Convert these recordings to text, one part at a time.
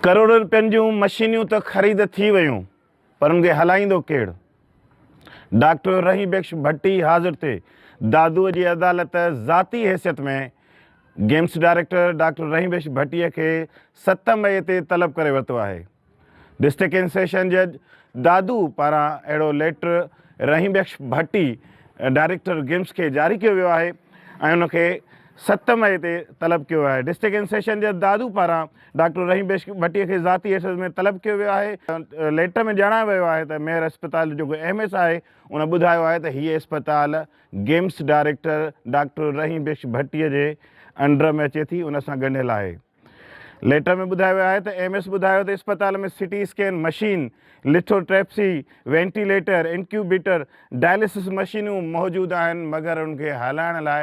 ڪروڙين رپين جون مشينيون ته خريد ٿي ويون پر ان کي هلائيندو ڪيڙ؟ ڊاڪٽر رحيم بخش ڀٽي حاضر تي دادوء جي عدالت ذاتي حيثيت ۾ GIMS director doctor Rahim Bux Bhatti کي ست مئي تي طلب ڪري ورتو آهي. ڊسٽرڪٽ اينڊ سيشن جج دادو پاران اهڙو letter Rahim Bux Bhatti director GIMS کي جاري ڪيو ويو آهي ۽ ان کي ست مئي تي طلب ڪيو ويو آهي. ڊسٽرڪٽ اينڊ سيشن جج دادو پاران ڊاڪٽر رحيم بيشڪ ڀٽي کي ذاتي حيثيت ۾ طلب ڪيو ويو آهي. ليٽر ۾ ڄاڻايو ويو آهي ته ميئر اسپتال جو جيڪو ايم ايس آهي ان ٻڌايو آهي ته هيء اسپتال گيمس ڊائريڪٽر ڊاڪٽر رحيم بيشڪ ڀٽي جي انڊر ۾ اچي ٿي ان سان ڳنڍيل آهي. ليٽر ۾ ٻڌايو ويو آهي ته ايم ايس ٻڌايو ته اسپتال ۾ CT scan machine, lithotripsy, ventilator, incubator, dialysis مشينون موجود آهن مگر ان کي هلائڻ لاء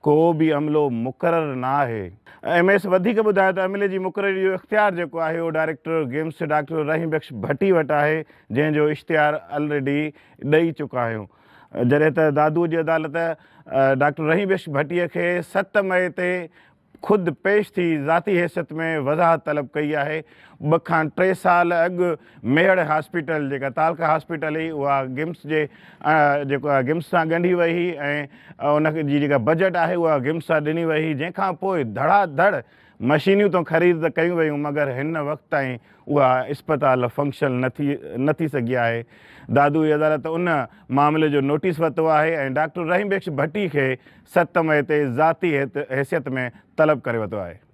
ڪو به عملو مقرر نه آهي. ايم ايس وڌيڪ ٻڌايو ته عملي جي مقرري جو اختيار جيڪو آهي اهو director GIMS doctor Rahim Bux Bhatti وٽ آهي جنهن جو اشتهار الريڊي ڏئي چڪا آهيون جڏهن ته دادوء جي عدالت ڊاڪٽر رحيم بخش ڀٽي کي ست مئي تي خود پيش ٿي ذاتي حيثيت ۾ وضاحت طلب ڪئي آهي ٻه کان ٽي سال اڳ ميهڙ هاسپيٽل جيڪا تعلقه هاسپيٽل هئي اها گمس جي جيڪو آهي گمس سان ڳنڍي وئي هئي ۽ ان جي جيڪا بجيٽ آهي اها گمس سان ڏني وئي هئي جنهن کان پوء ڌڙا ڌڙ مشينيون تون خريد ته ڪيون ويون مگر هن وقت تائين اها اسپتال فنڪشل نه ٿي نه ٿي سگهي آهي دادوئي عدالت ان معاملي جو نوٽيس ورتو آهي ۽ ڊاڪٽر رحيم بخش ڀٽي کي ست مئي تي ذاتي حيثيت ۾ طلب ڪري ورتو آهي.